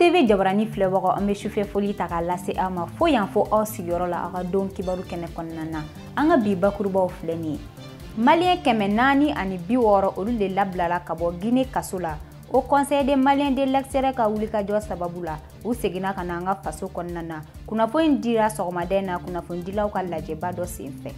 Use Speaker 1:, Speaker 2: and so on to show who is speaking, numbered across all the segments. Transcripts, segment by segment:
Speaker 1: tv jabarani filɛbagaw an bɛ sufɛ foli ta k'a lase aw ma fo yan fo aw sigiyɔrɔ la aw ka don kibaru kɛnɛ kɔnɔna na an ka bi bakurubaw filɛ nin ye maliyɛn kɛmɛ naani ani bi wɔɔrɔ olu de labilala ka bɔ gine kaso la haut conseil des maliens de l'extérieur ka wulikajɔ sababu la u seginna ka na an ka faso kɔnɔna na kunnafoni dira sɔgɔmada in na kunnafonidilaw ka lajɛba dɔ senfɛ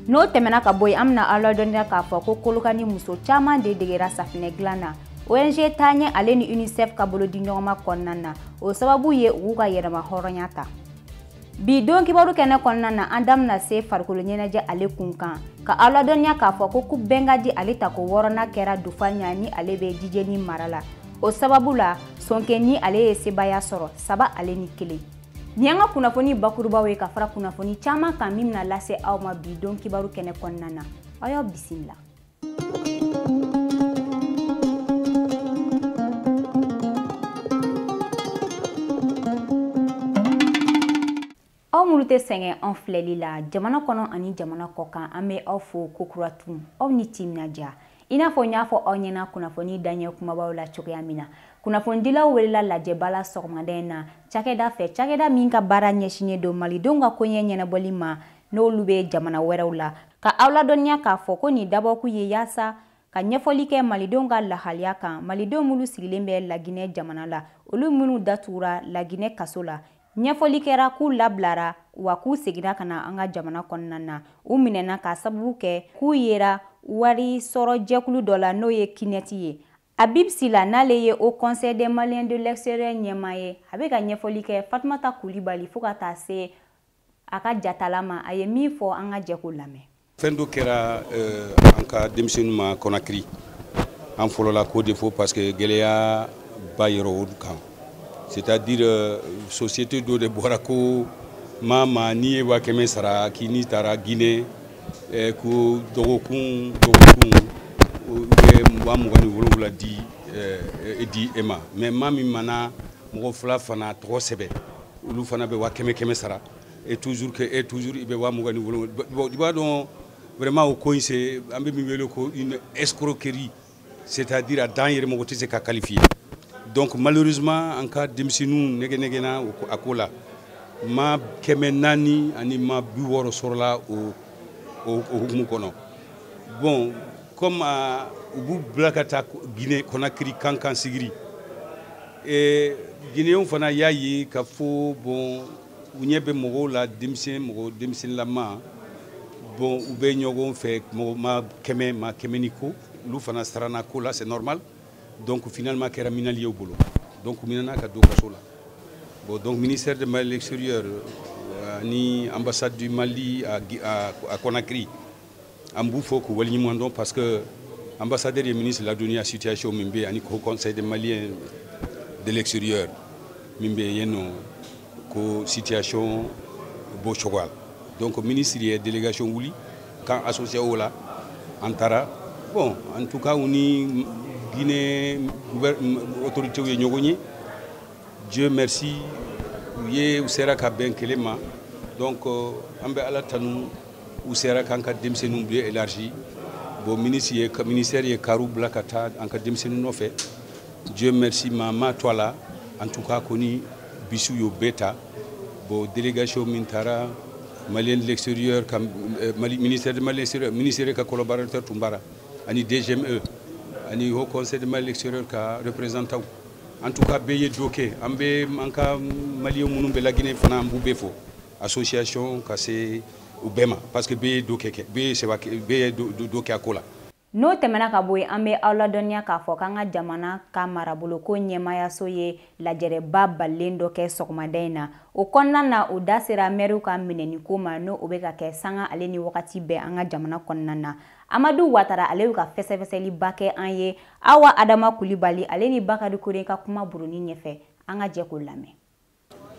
Speaker 1: n'o tɛmɛna ka bɔ yen an bɛna aw ladɔnniya k'a fɔ ko kolokani muso caman de degera safinɛ dilan na ong taaɲɛ ale ni unicef ka bolodiɲɔgɔnma kɔnɔna na o sababu ye u k'u ka yɛrɛmahɔrɔnya ta bi don kibaru kɛnɛ kɔnɔna na an da bɛna se farikolo ɲɛnajɛ ale kun kan ka aw ladɔnniya k'a fɔ ko coupe bɛnkadi ale tako wɔɔrɔnan kɛra dufaɲani ale bɛ jijeni mara la o sababu la sonkeni ale ye sebaya sɔrɔ saba ale ni kelen nin y'an ka kunnafoni bakurubaw ye ka fara kunnafoni caman kan min bɛna lase aw ma bi don kibaru kɛnɛ kɔnɔna na aw y'aw bisimila aw minnu tɛ sɛgɛn an filɛli la jamana kɔnɔ ani jamana kɔkan an bɛ aw fo kokura tun aw ni timinandiya i n'a fɔ n y'a fɔ aw ɲɛna kunnafoni daɲɛ kumabaw la cogoya min na kunnafonidilaw welela lajɛba la sɔgɔmada in na cakɛda fɛ cakɛda min ka baara ɲɛsinnen don malidenw ka koɲɛ ɲɛnabɔli ma n'olu bɛ jamana wɛrɛw la ka aw ladɔnniya k'a fɔ ko nin dabɔkun ye yaasa ka ɲɛfɔli kɛ malidenw ka lahaliya kan malidenw minnu sigilen bɛ laginɛ jamana la olu minnu datugura laginɛ kaso la ɲɛfɔli kɛra k'u labilara wa k'u seginna ka na an ka jamana kɔnɔna na u minɛna k'a sababu kɛ k'u yera wari sɔrɔ jɛkulu dɔ la n'o ye qnet ye Habib Sila n'ale ye Haut Conseil des Maliens de l'extérieur ɲɛmaa ye, a bɛ ka ɲɛfɔli kɛ Fatumata Kulibali fo ka taa se a ka jatala ma, a ye min fɔ an ka jɛ k'o lamɛn. Fɛn dɔ kɛra
Speaker 2: euh, an ka denmisɛnninw ma Conakry, an fɔlɔla k'o de fɔ parce que gɛlɛya ba yɛrɛ o kan, c'est à dire euh, société dɔ de bɔra ko maa maa n'i ye wa kɛmɛ sara k'i n'i taara Guinée eh, ko dɔgɔkun dɔgɔkun u bɛ wa mugan ni wolonwula di eh, eh, di e ma mais maa min mana mɔgɔ fila fana tɔgɔ sɛbɛn olu fana bɛ wa kɛmɛ kɛmɛ sara et toujours eh et toujours i bɛ wa mugan ni wolonwula i b'a dɔn vraiment o ko in c'est an bɛ min wele ko une escroquerie c'est à dire a dan yɛrɛ mɔgɔ tɛ se ka qualifier donc malheureusement an ka denmisɛnninw nɛgɛnɛgɛnna a ko la maa kɛmɛ naani ani maa bi wɔɔrɔ sɔrɔla o o hukumu kɔnɔ bon comme ah, u b'u bila ka taa guinée conakry kan kan sigiri eh, guinéenw fana y'a ye ka fɔ bon u ɲɛ bɛ mɔgɔw la denmisɛn mɔgɔ denmisɛnninlama bon u bɛ ɲɔgɔn fɛ mɔgɔ maa kɛmɛ maa kɛmɛ ni kɔ olu fana sarana ko la c'est normal donc finalement a kɛra minali ye u bolo donc u minana ka don kaso la bon donc ministère de Mali extérieur euh, ni ambassade du Mali à, à, à Conakry an b'u fo k'u waleɲuman dɔn parce que ambassadeur ye ministre ladɔnniya situation min bɛ ani haut conseil de malien de l'extérieur min bɛ yen nɔ ko situation b'o cogoya la donc ministre ye délégation wuli k'an associé o la an taara bon en tout cas u ni guinée autoritéw ye ɲɔgɔn ye dieu merci u ye u sera ka bɛn kelen ma donc an bɛ ala tanu u sera k'an ka denmisɛnninw bɛɛ élargi bon ministre ye ministère ye kariw bila ka taa an ka denmisɛnninw nɔfɛ dieu merci maa ma to a la en tout cas kɔni bisiw y'u bɛɛ ta bon délégation min taara malien de l'extérieur ka euh, mali ministère de mali extérieur ministère ka collaborateur tun b'a ra ani DGME ani haut conseil de mali extérieur ka représentant en tout cas bɛɛ ye dɔ kɛ an bɛ an ka maliyɛn minnu bɛ la Guinée fana an b'u bɛɛ fo association ka se u bɛɛ ma parce que bɛɛ ye bɛɛ ye dɔ kɛ a ko la n'o tɛmɛna
Speaker 1: ka bɔ yen an bɛ aw ladɔnniya k'a fɔ k'an ka jamana ka maraboloko ɲɛmaayaso ye lajɛrɛba balalen dɔ kɛ sɔgɔmada in na o kɔnɔna na o da sera mɛriw ka minɛniko ma ni o bɛ ka kɛ sanga ale ni wagati bɛɛ an ka jamana kɔnɔna na amadu watara ale bɛ ka fɛsɛfɛsɛliba kɛ an ye awa adama kulibali ale ni bakari kore ka kuma buruni ɲɛfɛ an ka jɛ k'o lamɛn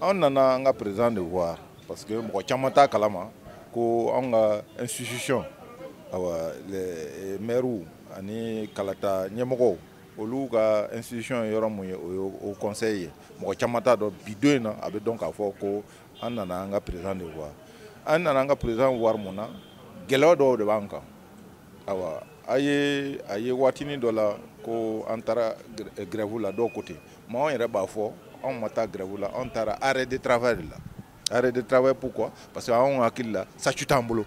Speaker 1: an
Speaker 3: nana an ka président de voir parce que mɔgɔ caman t'a kalama ko an ka institution awa les maires ani kalata ɲɛmɔgɔw olu ka institution ye yɔrɔ min ye o ye haut conseil ye mɔgɔ caman t'a dɔn bi don in na a bɛ dɔn k'a fɔ ko an nana an ka président de voir an nana an ka président voir mun na gɛlɛya dɔw de b'an kan awa a ye a ye waatinin dɔ la ko an taara grève la dɔw ko ten Mais anw yɛrɛ b'a fɔ anw ma taa grève la anw taara arrêt de travail de la arrêt de travail pourquoi parce que anw hakili la statut t'an bolo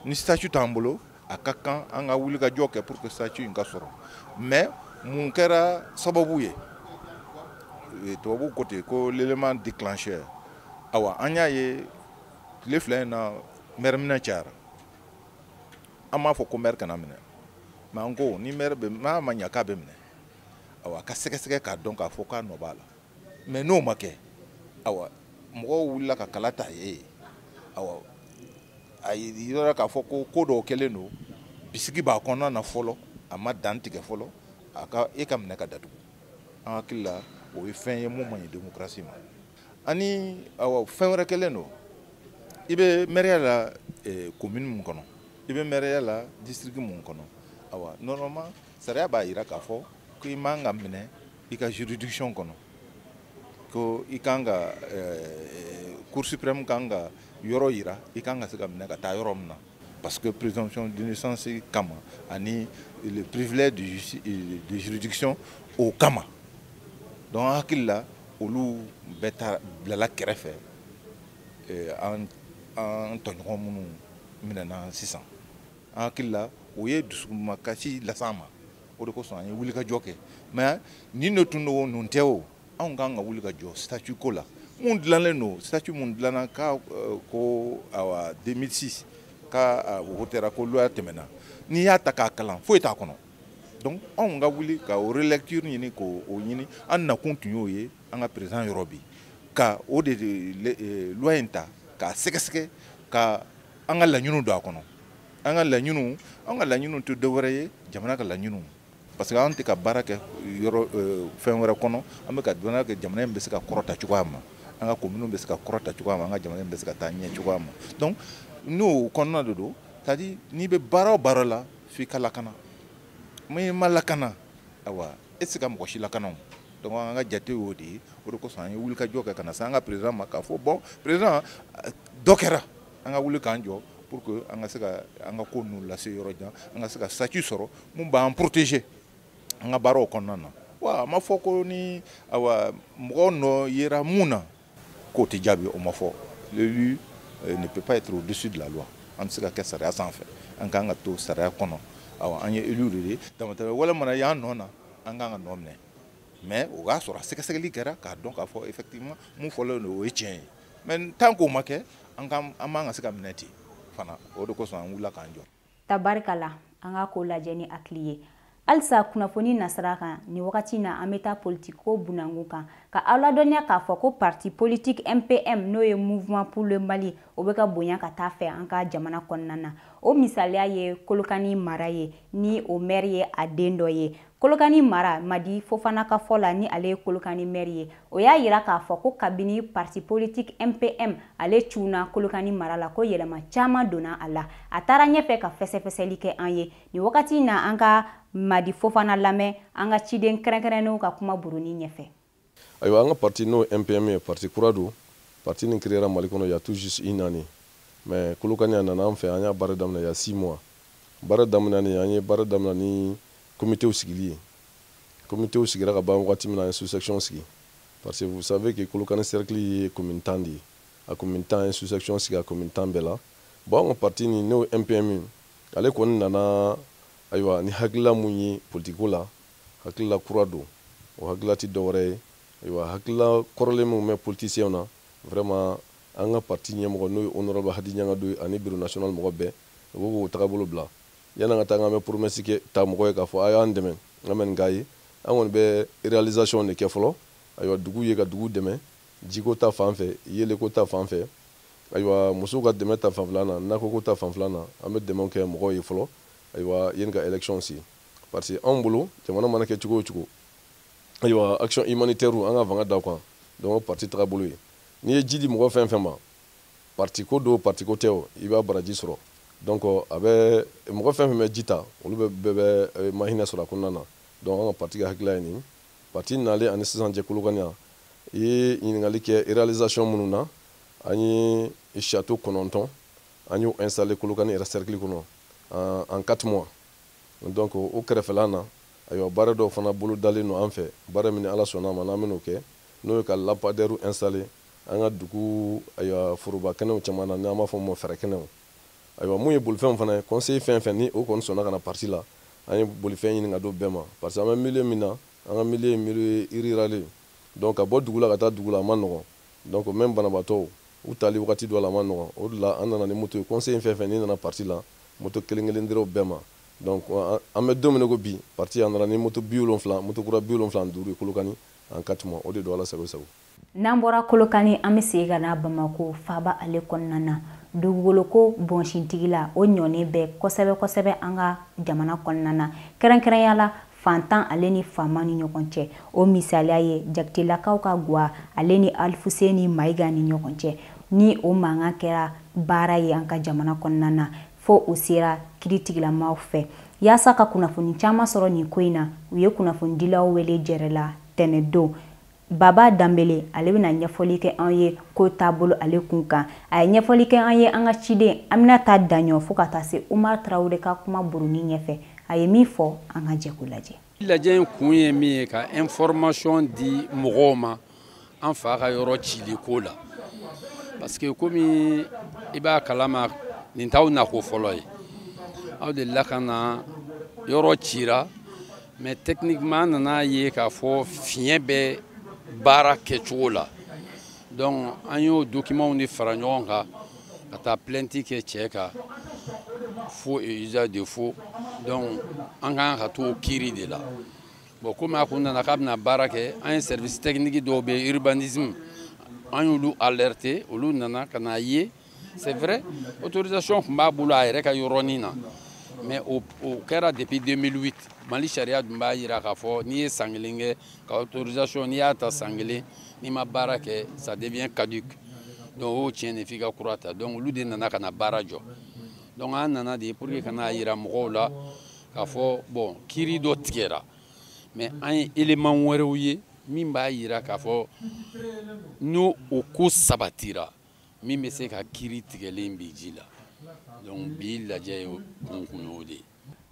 Speaker 3: ni statut t'an bolo a ka kan an ka wulikajɔ kɛ pour que statut in ka sɔrɔ mais mun kɛra sababu ye eh, tubabu ko ten ko l'élément déclencheur awa an y'a ye tile fila in na mɛri minɛ cayara an m'a fɔ ko mɛri kana minɛ mais an ko ni mɛri bɛ n'a ma ɲa k'a bɛ minɛ awa a ka sɛgɛsɛgɛ k'a dɔn k'a fɔ k'a nɔ b'a la mais n'o ma kɛ awa mɔgɔw wulila ka kala ta i ye awa a yirala k'a fɔ ko ko dɔw kɛlen don bisigi b'a kɔnɔna na fɔlɔ a ma dantigɛ fɔlɔ a ka e ka minɛ ka datugu an hakili la o ye fɛn ye mun man ɲi demokarasi ma ani awa fɛn wɛrɛ kɛlen don i bɛ mɛriya la komini eh, mun kɔnɔ i bɛ mɛriya la disitiriki mun kɔnɔ awa nɔrɔma sariya b'a yira k'a fɔ ko i man ka minɛ i ka juridiction kɔnɔ ko i kan ka eh, cour suprême kan ka yɔrɔ yira i kan ka se ka minɛ ka taa yɔrɔ min na parce que présomption d'innocence kama ani le privilège de, de juridiction o kama donc an hakili la olu bɛɛ ta bilala kɛrɛfɛ eh, an an tɔɲɔgɔn minnu minɛna sisan an hakili la o ye dusukumakasi las'an ma o de kosɔn an ye wulikajɔ kɛ mais nin de tun don nin tɛ o anw kan ka wuli ka jɔ statut ko la mun dilanlen don statut mun dilanna ka euh, ko awa 2006 ka euh, o wotera ko loi tɛmɛna n'i y'a ta k'a kalan foyi t'a kɔnɔ donc anw ka wuli ka o relecture ɲini k'o o ɲini an nakun tun y'o ye an ka président yɔrɔ bi ka o de euh, loi in ta k'a sɛgɛsɛgɛ ka an ka laɲiniw don a kɔnɔ an ka laɲiniw an ka laɲiniw tɛ dɔwɛrɛ ye jamana ka laɲiniw parce que an tɛ ka baara kɛ yɔrɔ euh, fɛn wɛrɛ kɔnɔ an bɛ ka dɔnniya kɛ jamana in bɛ se ka kɔrɔta cogoya ma an ka kominiw bɛ se ka kɔrɔta cogoya ma an ka jamana in bɛ se ka taa ɲɛ cogoya ma donc n'o kɔnɔna de don c'est à dire n'i bɛ baara o baara la f'i ka lakana n'i ma lakana awa e tɛ se ka mɔgɔ si lakana o donc an ka jate y'o de ye o de kosɔn an ye wulikajɔ kɛ ka na se an ka président ma k'a fɔ bon président dɔ kɛra an ka wuli k'an jɔ pour que an ka se ka an ka ko ninnu lase yɔrɔ jan an ka se ka statut sɔrɔ mun b'an protéger an ka baaraw kɔnɔna na wa a ma fɔ ko ni awa mɔgɔ nɔ yera mun na k'o tɛ jaabi o ma fɔ l'élu euh, ne peut pas être au-dessus de la loi an tɛ se ka kɛ sariya sanfɛ an kan ka to sariya kɔnɔ awa an ye élu de ye damatɛmɛ wale mana y'an nɔ na an kan ka nɔminɛ mais o k'a sɔrɔ a sɛgɛsɛgɛli kɛra k'a dɔn k'a fɔ effectivement mun fɔlen don o ye tiɲɛ ye mais tant k'o ma kɛ an ka a man ka se ka minɛ ten fana o de kosɔn an wulila k'an jɔ
Speaker 1: tabarikala an ka ko lajɛ ni hakili ye halisa kunnafoni nasira kan ni wagati na an bɛ taa politiki ko bunangu kan ka aw ladɔnniya k'a fɔ ko parti politique mpm n'o ye mouvement pour le mali o bɛ ka bonya ka taa fɛ an ka jamana kɔnɔna na o misaliya ye kolokani mara ye ni o maire ye a den dɔ ye Kolokani mara Madi Fofana ka fɔ la ni ale ye Kolokani mɛri ye, o y'a yira k'a fɔ ko kabini parti politique MPM ale cunna Kolokani mara la ko yɛlɛma caman donna a la. A taara ɲɛfɛ ka fɛsɛfɛsɛli kɛ an ye. Nin wagati na an ka Madi Fofana lamɛn an ka ciden kɛrɛnkɛrɛnnenw ka kuma buruni ɲɛfɛ. ayiwa an
Speaker 4: ka parti n'o mpm ye parti kura don parti nin créera mali kɔnɔ y a tout juste une année mais kolokani a nana an fɛ an y'a baara daminɛ y a six mois baara daminɛni an ye baara daminɛ ni komitew sigili ye komitew sigira ka ban wagati min na an ye sous-section sigi parce que vous savez que kolokani cercle ye commune tan de ye a commune tan an ye sous-section sigi a commune tan bɛɛ la bon an ka parti nin n'o mpm ale kɔni nana ayiwa ni hakilila mun ye politiko la Hakilila kura don, o hakilila tɛ dɔwɛrɛ ye, ayiwa hakilila kɔrɔlen minw bɛ politiciens na, vraiment an ka parti ɲɛmɔgɔ n'o ye honorable Hadi Ɲangadu ye ani bureau national mɔgɔ bɛɛ, u bɛ k'o tagabolo bila. Yanni an ka taa, n k'an bɛ promesse kɛ ta mɔgɔ ye k'a fɔ a y'an dɛmɛ, an bɛ nin k'a ye, an kɔni bɛ réalisation de kɛ fɔlɔ, ayiwa duguw ye ka duguw dɛmɛ jiko ta fan fɛ, yeelenko ta fan fɛ, ayiwa musow ka dɛmɛ ta fanfɛla na, nakɔko ta fanfɛla na, an bɛ dɛmɛw kɛ mɔgɔw ye fɔlɔ, ayiwa yanni ka élection se. parce que anw bolo jamana mana kɛ cogo o cogo ayiwa action humanitaire an ka fanga da kan donc parti tagabolo ye n'i ye ji di mɔgɔ fɛn fɛn ma parti ko don parti ko tɛ o i b'a baraji sɔrɔ donc a bɛ mɔgɔ fɛn fɛn bɛ ji ta olu bɛɛ bɛɛ bɛ eh, mahinɛ sɔrɔ a kɔnɔna na donc an ka parti ka hakilila ye nin parti nalen ani sisan cɛ kolokani yan i ye ɲininkali kɛ réalisation minnu na an ye château kɔnɔntɔn an y'o installer kolokani yɛrɛ cercle kɔnɔ en quatre mois Donc o kɛrɛfɛla na, ayiwa baara dɔw fana bolo dalen don an fɛ, baara min ni Ala sɔnna a ma n'an bɛn'o kɛ, n'o ye ka lampadaires installer an ka dugu ayiwa foroba kɛnɛw caman na, n'an b'a fɔ min ma fɛrɛkɛnɛw. Ayiwa mun ye bolifɛnw fana ye, conseiller fɛn fɛn ni o kɔni sɔnna ka na parti la, an ye bolifɛn ɲini ka d'o bɛɛ ma parce que an bɛ milieu min na, an ka milieu ye milieu rural ye, donc ka bɔ dugu la ka taa dugu la a man nɔgɔn. Donc même banabaatɔw u tali wagati dɔ la a man nɔgɔn. O de la an nana ni moto ye. Conseiller fɛn fɛn ni nana parti la moto kelen kelen dira u bɛɛ ma. Donc an bɛ don min na i ko bi parti a nana ni moto 70 moto kura 75 ye Kolokani en quatre mois. O de don Ala sago i sago. N'an bɔra
Speaker 1: Kolokani an bɛ segin ka na Bamako faaba ale kɔnɔna na. Dugukolo ko bɔnsi tigi la o ɲɔnen bɛ kosɛbɛ kosɛbɛ an ka jamana kɔnɔna na. Kɛrɛnkɛrɛnya la fantan ale ni faama ni ɲɔgɔn cɛ o misaliya ye jakitelakaw ka gwa ale ni alifuseni mayiga ni ɲɔgɔn cɛ ni o mankan kɛra baara ye an ka jamana kɔnɔna na fo o sera kiritigɛlamaw fɛ yaasa ka kunnafoni caman sɔrɔ nin ko in na u ye kunnafonidilaw wele jɛrɛ la tɛnɛdon Baba Danbele ale bɛna ɲɛfɔli kɛ an ye ko taabolo ale kun kan a ye ɲɛfɔli kɛ an ye an ka ciden Aminata Daɲɔn fo ka taa se Umar Traore ka kuma buruni ɲɛfɛ a ye min fɔ an ka jɛ k'o lajɛ. Lajɛ in kun ye
Speaker 5: min ye ka information di mɔgɔw ma an fa ka yɔrɔ cili ko la parce que komi i b'a kalama nin t'aw nako fɔlɔ ye aw delila ka na yɔrɔ cira mais techniquement an nana ye k'a fɔ fiɲɛ bɛ baara kɛcogo la donc an y'o dokimanw de fara ɲɔgɔn kan ka taa plainte kɛ cɛ kan faux et usage de faux donc an ka kan ka t'o kiiri de la bon komi a kun nana k'a bɛna baara kɛ an ye service technique dɔw bɛ urbanisme an y'olu alerté olu nana ka n'a ye c'est vrai autorisation tun b'a bolo a yɛrɛ ka yɔrɔnin na mais o kɛra depuis 2008 mali sariya dun b'a yira k'a fɔ n'i ye san kelen kɛ ka autorisation n'i y'a ta san kelen n'i ma baara kɛ ça devient caduc donc o y'o tiɲɛ de f'i ka kura ta donc olu de nana ka na baara jɔ donc an nana de pour que ka n'a yira mɔgɔw la k'a fɔ bon kiiri dɔ tigɛra mais an ye élément wɛrɛw ye min b'a yira k'a fɔ n'o ko sabatira min bɛ se ka kiri tigɛlen bin ji la donc bi lajɛ in kun kun y'o de ye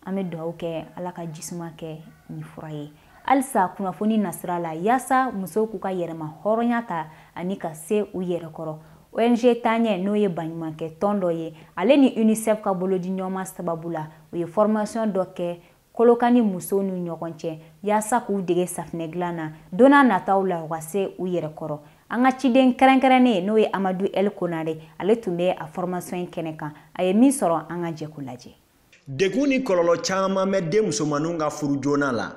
Speaker 5: an bɛ dugawu kɛ
Speaker 1: ala ka jisuma kɛ nin fura ye halisa kunnafoni nasira la yaasa musow k'u ka yɛrɛma hɔrɔnya ta ani ka se u yɛrɛ kɔrɔ ong taɲɛ n'o ye baɲumankɛ tɔn dɔ ye ale ni unicef ka bolodiɲɔgɔnma sababu la u ye fɔrimasiyɔn dɔ kɛ kolokani musow ni ɲɔgɔn cɛ yaasa k'u dege safinɛ dilan na don na nataw la u ka se u yɛrɛ kɔrɔ an ka ciden kɛrɛnkɛrɛnnen n'o ye amadu el konare ale tun bɛ a fɔrɔmasɔn in kɛnɛ kan a ye min sɔrɔ an ka jɛ k'o lajɛ degun ni
Speaker 6: kɔlɔlɔ caman bɛ den musomanninw ka furu joona la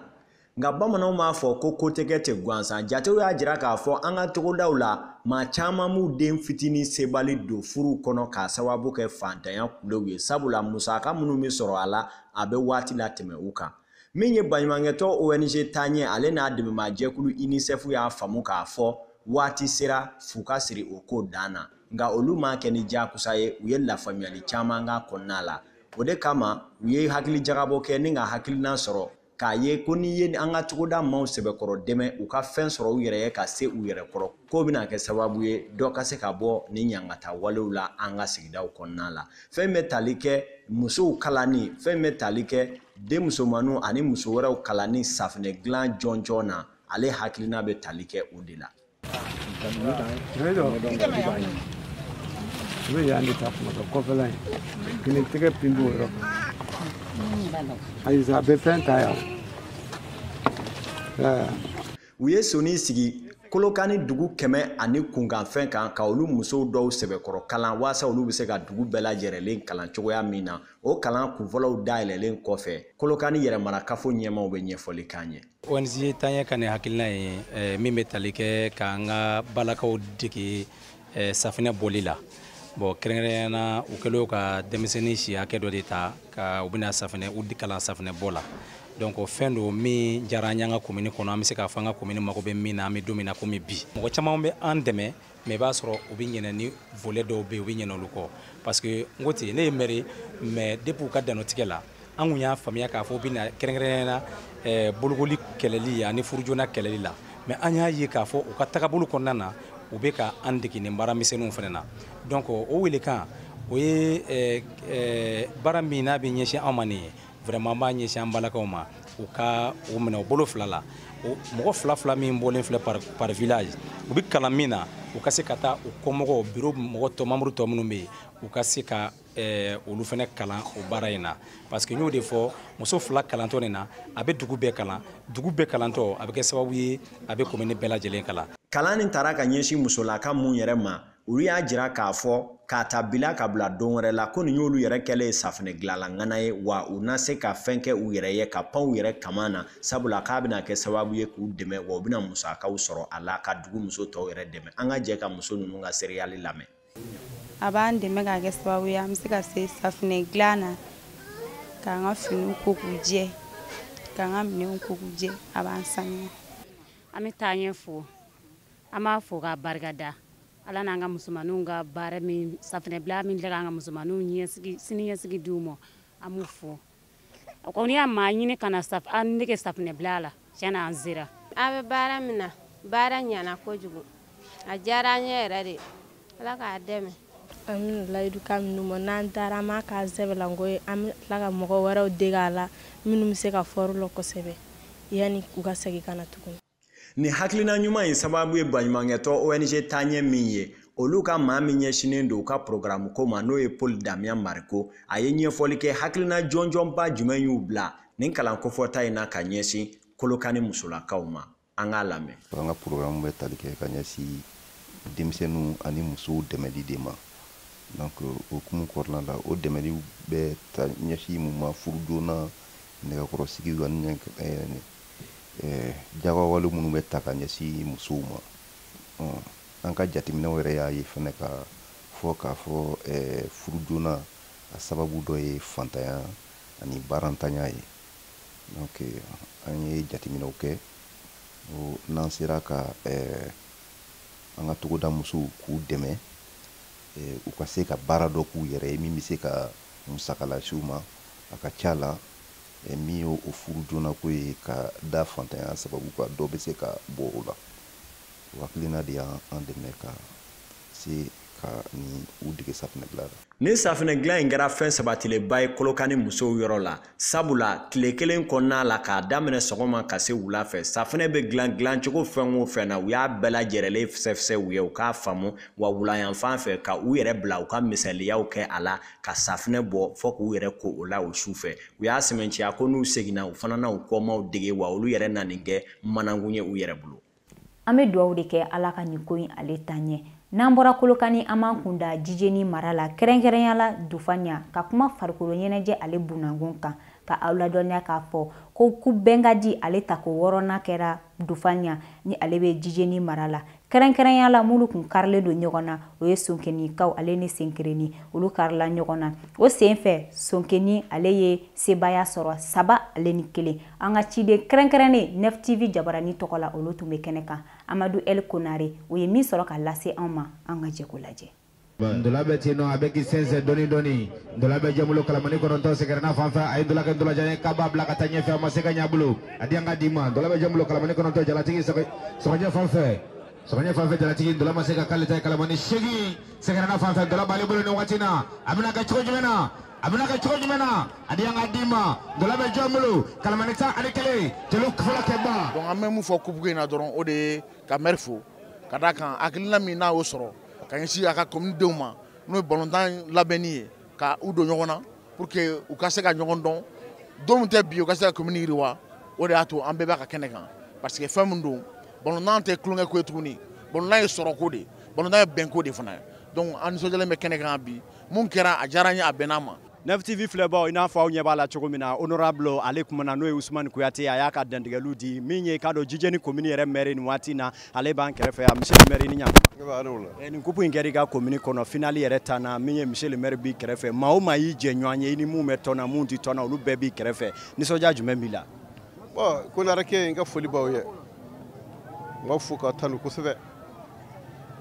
Speaker 6: nka bamananw b'a fɔ ko ko tɛ kɛ ten gansan jatew y'a jira k'a fɔ an ka togodaw la maa caman b'u den fitinin sebali don furuw kɔnɔ k'a sababu kɛ faantanya kulew ye sabula musaka minnu bɛ sɔrɔ a la a bɛ waati latɛmɛ u kan min ye baɲumankɛtɔn ong taɲɛ ale n'a dɛmɛbaa jɛkulu unicef y'a faamu k'a fɔ waati sera fu ka siri o ko dan na nka olu m'a kɛ ni diyagoya ye u ye lafaamuyali caman k'a kɔnɔna la o de kama u ye hakili jagabɔ kɛ ni ka hakilina sɔrɔ k'a ye ko n'i ye an ka togoda maaw sɛbɛkɔrɔ dɛmɛ u ka fɛn sɔrɔ u yɛrɛ ye ka se u yɛrɛ kɔrɔ k'o bɛna kɛ sababu ye dɔ ka se ka bɔ ni ɲangata walew la an ka sigidaw kɔnɔna la fɛn min bɛ tali kɛ musow kalanni fɛn min bɛ tali kɛ denmusomanninw ani muso wɛrɛw kalanni safinɛ dilan jɔnjɔn na ale hakilina bɛ tali kɛ o de la. u bɛ yan de ta kuma dɔ kɔfɛla in kini tɛgɛ pin b'o yɔrɔ kan ayi a bɛ fɛn ta yan. u ye sɔnin sigi kolokani dugu kɛmɛ ani kunkanfɛn kan ka olu musow dɔw sɛbɛkɔrɔ kalan waasa olu bɛ se ka dugu bɛɛ lajɛrɛlen kalan cogoya min na o kalan kunfɔlɔw dayɛlɛlen kɔfɛ kolokani yɛrɛmarakafo ɲɛmaaw bɛ ɲɛfɔli k'an ye ONG Taaɲɛ ka nin
Speaker 7: hakilina ye eh, min bɛ tali kɛ k'an ka balakaw dege eh, safinɛ bɔli la bon kɛrɛnkɛrɛnya na u kɛlen ka denmisɛnnin si hakɛ dɔ de ta ka u bɛna safinɛ u kalan safinɛ bɔ la donc o fɛn don min diyara an y'an ka komini kɔnɔ an bɛ se k'a fɔ an ka komini mago bɛ min na an bɛ don min na komi bi mɔgɔ caman bɛ an dɛmɛ mais i b'a sɔrɔ u bɛ ɲinɛ ni volet dɔw bɛ yen u bɛ ɲinɛ olu kɔ parce que n ko ten ne ye mɛri mais depuis u ka dannɔtigɛ la an kun y'a faamuya k'a fɔ u bɛna kɛrɛnkɛrɛnnenya na eh, bolokoli kɛlɛli ani furujona kɛlɛli la mais an y'a ye k'a fɔ u ka tagabolo kɔnɔna na u bɛ ka an dege nin baara misɛnninw fana na donc o welekan o ye eh, eh, baara min n'a bɛ ɲɛsin an ma nin ye vraiment an b'a ɲɛsin an balakaw ma u ka o minɛ u bolo fila la mɔgɔ fila fila min bɔlen filɛ par, par village u bɛ kalan min na u ka se ka taa u kɔmɔgɔw biro mɔgɔ tɔ membre tɔ minnu bɛ yen u ka se ka Eh, olu fana kalan o baara in na parce que n y'o de fɔ muso fila kalantɔ nin na a bɛ dugu bɛɛ kalan dugu bɛɛ kalantɔ a bɛ kɛ sababu ye a bɛ komini bɛɛ lajɛlen kalan kalan nin tara ka
Speaker 6: ɲɛsin musolaka minnu yɛrɛ ma olu y'a jira k'a fɔ k'a ta bi la ka bila don wɛrɛ la ko nin y'olu yɛrɛ kɛlen ye safinɛ dilanla ŋana ye wa u na se ka fɛn kɛ u yɛrɛ ye ka pan u yɛrɛ kaman na sabula k'a bɛna kɛ sababu ye k'u dɛmɛ wa u bɛna musakaw sɔrɔ a la ka dugu muso tɔw yɛrɛ dɛmɛ an ka jɛ ka muso ninnu ka seereyali lamɛn a
Speaker 8: b'an dɛmɛ ka kɛ sababu ye an bɛ se ka se safinɛ dilan na k'an ka finiw ko k'u jɛ k'an ka minɛnw ko k'u jɛ a b'an sanuya an
Speaker 9: bɛ Taaɲɛ fo an b'a fo k'a barika da ala n'an ka musomanninw ka baara min safinɛ bila min kɛ k'an ka musomanninw siniɲɛsigi di u ma an b'u fo a kɔni y'a maa ɲini ka na an dege safinɛ bila la tiɲɛ na an sera a bɛ baara min
Speaker 10: na baara ɲana kojugu a diyara an ye yɛrɛ de ala k'a dɛmɛ an
Speaker 8: bɛna layidu ka minnu ma n'an taara an b'a k'an sɛbɛlanko ye an bɛ tila ka mɔgɔ wɛrɛw dege a la minnu bɛ se ka fɔrɔ la kosɛbɛ yanni u ka segin ka na tuguni Nin
Speaker 6: hakilina ɲuman in sababu ye baɲumankɛtɔn ONG taaɲɛ min ye, olu ka maa min ɲɛsinnen don u ka porogaramu ko ma, n'o ye Paul Damian Mariko, a ye ɲɛfɔli kɛ hakilina jɔnjɔnba jumɛn y'u bila nin kalan kofɔta in na ka ɲɛsin Kolokani musolakaw ma. An k'a lamɛn. An ka porogaramu
Speaker 11: bɛ tali kɛ ka ɲɛsin denmisɛnninw ani musow dɛmɛli de ma. Donc, o hukumu kɔnɔna la, o dɛmɛliw bɛ taa ɲɛsin mun ma? Furu joona, nɛgɛkɔrɔsigiw ani jagawale minnu bɛ taa ka ɲɛsin musow ma an ka jateminɛw yɛrɛ y'a ye fɛnɛ ka fɔ k'a fɔ furu joona a sababu dɔ ye fantanya ani baarantanya ye donc an ye jateminɛw kɛ n'an sera ka an ka togoda musow k'u dɛmɛ u ka se ka baara dɔ k'u yɛrɛ ye min bɛ se ka musaka lase u ma a ka ca la Min ye o furu joona ko ye ka da fantanya sababu kan dɔ bɛ se ka bɔ o la o hakilina de y'an an dɛmɛ ka se ka ninnu dege safinɛ dilan la nin safinɛ dilan in
Speaker 6: kɛra fɛn sabatilenba ye kolokani musow yɔrɔ la sabula tile kelen kɔnɔna la k'a daminɛ sɔgɔma ka se wula fɛ safinɛ bɛ dilan dilancogo fɛn o fɛn na u y'a bɛɛ lajɛrɛlen fisɛfisɛ u ye u k'a faamu wa wulayanfan fɛ ka u yɛrɛ bila u ka misaliyaw kɛ a la ka safinɛ bɔ fo k'u yɛrɛ ko o la o su fɛ u y'a sɛmɛnciya ko n'u seginna u fana na u kɔmaaw dege wa olu yɛrɛ na nin kɛ manankun ye u yɛrɛ bolo an bɛ dugawu
Speaker 1: de kɛ ala ka nin ko in ale taa ɲɛ n'an bɔra kolokani an b'an kun da jijeni mara la kɛrɛnkɛrɛnya la dufanya ka kuma farikolo ɲɛnajɛ ale bunankun kan ka aw ladɔnniya k'a fɔ ko kupu bɛnkadi ale tako wɔɔrɔnan kɛra dufanya ni ale bɛ jijeni mara la kɛrɛnkɛrɛnya la minnu kun karilen don ɲɔgɔn na o ye sonkenikaw ale ni senkerenni olu karila ɲɔgɔn na o sen fɛ sonkeni ale ye sebaaya sɔrɔ saba ale ni kelen an ka ciden kɛrɛnkɛrɛnnen nɛftivi jabarani tɔgɔ la olu tun bɛ kɛnɛ kan amadu el konare o ye min sɔrɔ ka lase an ma an ka jɛ k'o lajɛ ndola bɛ
Speaker 12: ten nɔ a bɛ k'i sɛnsɛn dɔɔni dɔɔni ndola bɛ jɔn bolo kalamani kɔnɔntɔn sɛgɛrɛna fan fɛ a ye ndola kɛ ndolajan ye k'a b'a bila ka taa ɲɛfɛ a ma se ka ɲɛ a bolo a di an ka di ma ndola bɛ jɔn bolo kalamani kɔnɔntɔn jalatigi sɔgɔjɛ fan fɛ sɔgɔjɛ fan fɛ jalatigi ndola ma se ka k'ale ta ye kalamani seegin sɛgɛrɛna fan fɛ ndola b'ale bolo nin waati na a bɛna kɛ cogo jumɛn na a bɛna kɛ cogo jumɛn na a di an ka di ma ndola bɛ jɔn bolo kalamani tan ani kelen jeliw fɔlɔ kɛba. donc an bɛ mun fɔ kupuko
Speaker 13: in na dɔrɔn o de ye ka mɛri fo. ka d'a kan hakilina min n'a y'o sɔrɔ ka ɲɛsin a ka commune denw ma n'o ye balontan labɛnni ye ka u don ɲɔgɔn na pour que u ka se ka ɲɔgɔn dɔn don min tɛ bi u ka se ka commune yiriwa o de y'a to an bɛɛ b'a ka kɛnɛ kan parce que fɛn min don balontan tɛ tulonkɛ ko ye tuguni balontan ye sɔrɔko de balontan ye bɛnko de fana ye donc an nisɔndiyalen bɛ kɛnɛ kan bi mun kɛra a diyara an ye a bɛnna an ma Neuf TV
Speaker 14: filɛbaaw i n'a fɔ aw ɲɛ b'a la cogo min na honorable ale kumana n'o ye Ousmane Kuyate a y'a ka dantigɛliw di min ye k'a dɔn Jijeni commune yɛrɛ maire nin waati in na ale b'an kɛrɛfɛ yan monsieur le maire i ni ɲankuma eh, nin coupe in kɛra i ka commune kɔnɔ finale yɛrɛ tanna min ye monsieur le maire b'i kɛrɛfɛ maa o maa y'i jɛɲɔgɔn ye i ni minnu bɛ tɔn na minnu tɛ tɔn na olu bɛɛ b'i kɛrɛfɛ nisɔndiya jumɛn b'i la bon Konarekɛ
Speaker 15: n ka foli b'aw ye n b'aw fo k'aw tanu kosɛbɛ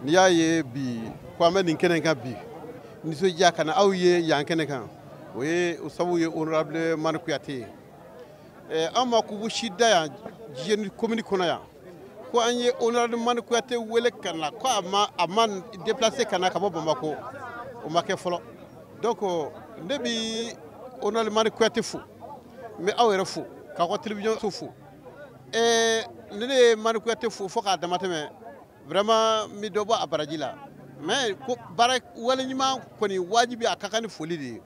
Speaker 15: n'i y'a ye bi ko an bɛ nin kɛnɛ kan bi nisɔndiya ka na aw ye yan kɛnɛ kan o ye o sabu ye honorable mani kuyate ye eh, an ma coupe si da yan jijeni komini kɔnɔ yan ko an ye honorable mani kuyate wele ka na ko a ma a ma déplacer ka na ka bɔ bamakɔ o ma kɛ fɔlɔ donc ne bi honorable mani kuyate fo n bɛ aw yɛrɛ fo k'aw ka télévision so fo ee ne ne ye mani kuyate fo fo k'a damatɛmɛ vraiment n bɛ dɔ bɔ a baraji la mais ko baara waleɲuman kɔni wajibi a ka kan ni foli de ye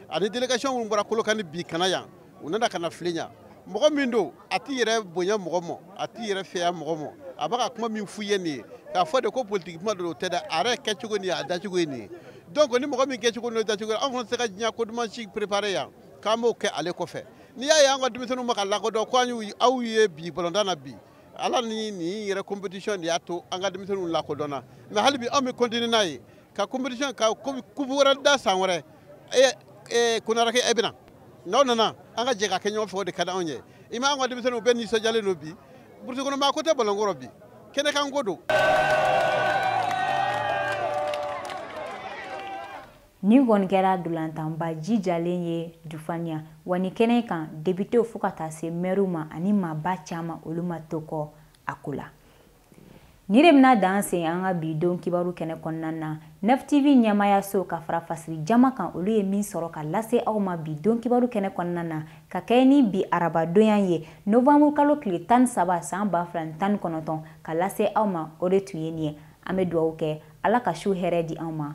Speaker 15: ani délégation minnu bɔra kolokani bi ka na yan u nana ka n'a filɛ yan mɔgɔ min don a t'i yɛrɛ bonya mɔgɔ mɔ a t'i yɛrɛ fɛya mɔgɔ mɔ a bɛ ka kuma min f'u ye nin ye k'a fɔ de ko politiki kuma don o tɛ dɛ a yɛrɛ kɛcogo nin ye a dacogo ye nin ye donc ni mɔgɔ min kɛcogo n'o dacogo ye anw fana tɛ se ka diɲɛ ko duman si préparer yan k'an b'o kɛ ale kɔfɛ n'i y'a ye an ka denmisɛnninw ma ka lakodɔn ko an y'u aw ye bi balontan na bi ala ni nin yɛrɛ competition de y'a to an ka denmisɛnninw lakodɔnna mais hali bi anw bɛ continuer n'a ye ka competition ka coupe wɛrɛ da san wɛrɛ e e konarekɛ e bɛna n'aw nana an ka jɛ k'a kɛ ɲɔgɔn fɛ o de ka di anw ye i ma an ka denmisɛnninw bɛɛ nisɔndiyalen don bi burusi kɔnɔ maa ko tɛ balonko rɔ bi kɛnɛkanko don
Speaker 1: Nin kɔni kɛra ntolatanba jijalen ye Dufaniya wa ni kɛnɛ kan depitew fo ka taa se mɛriw ma ani maaba caman olu ma to kɔ a ko la. Nin de bɛna dan sigi an ka bi don kibaru kɛnɛ kɔnɔna na. Neuf TV ɲɛmaayaso ka fara fasiri jama kan olu ye min sɔrɔ ka lase aw ma bi don kibaru kɛnɛ kɔnɔna na ka kɛɲɛ ni bi arabadonya ye novanburu kalo tile tan ni saba san ba fila ni tan ni kɔnɔntɔn ka lase aw ma o de tun ye nin ye. An bɛ dugawu kɛ Ala ka su hɛrɛ di an ma.